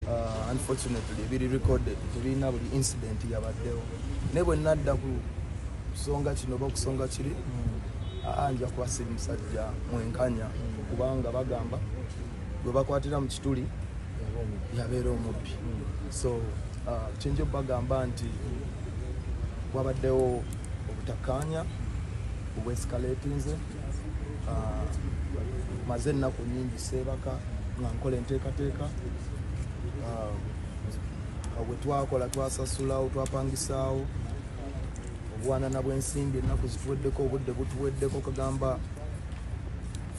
Uh, unfortunately biri recorded tebirina buli incident yabaddewo naye bwe nadda ku kusonga kino oba okusonga kiri ah, nja kubasiri musajja mwenkanya kubanga bagamba gwe bakwatira mu kituli yabeera omubbi so uh, kyenja okubagamba nti wabaddewo obutakkaanya obwescalatinze ah, maze ennaku nyingi seebaka nga nkola enteekateeka ah, bwe twakola twasasulawo twapangisaawo obwanana bw'ensimbi ennaku zituweddeko obudde butuweddeko kagamba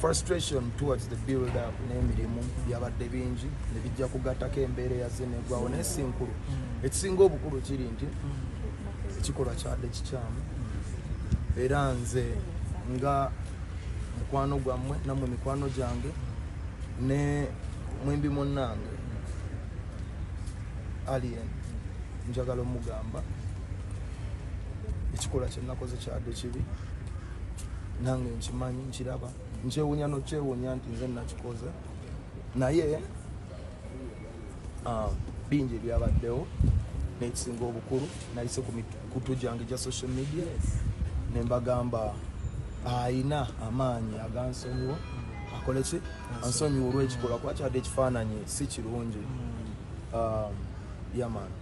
frustration towards the build up n'emirimu byabadde bingi ne bijja kugattako embeera eyaze negwawo naye si nkulu ekisinga obukulu kiri nti ekikolwa kyadde kikyamu era nze nga mukwano gwammwe nammwe mikwano gyange ne mwembi munnange alien njagala omugamba ekikolwa kyenakoze kyadde kibi nange nkimanyi nkiraba nkyewunya nokyewunya nti nze nakikoze naye ah, bingi ebyabaddewo nekisinga obukulu nayise ku mikutu gyange gya social media ne mbagamba ayina amaanyi agansonyiwa akole ki ansonyiwa olwekikolwa kuba kyadde ekifaananyi si kirungi mm. ah, yamani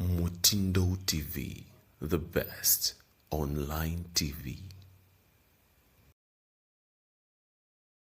Mutindo TV, the best online TV.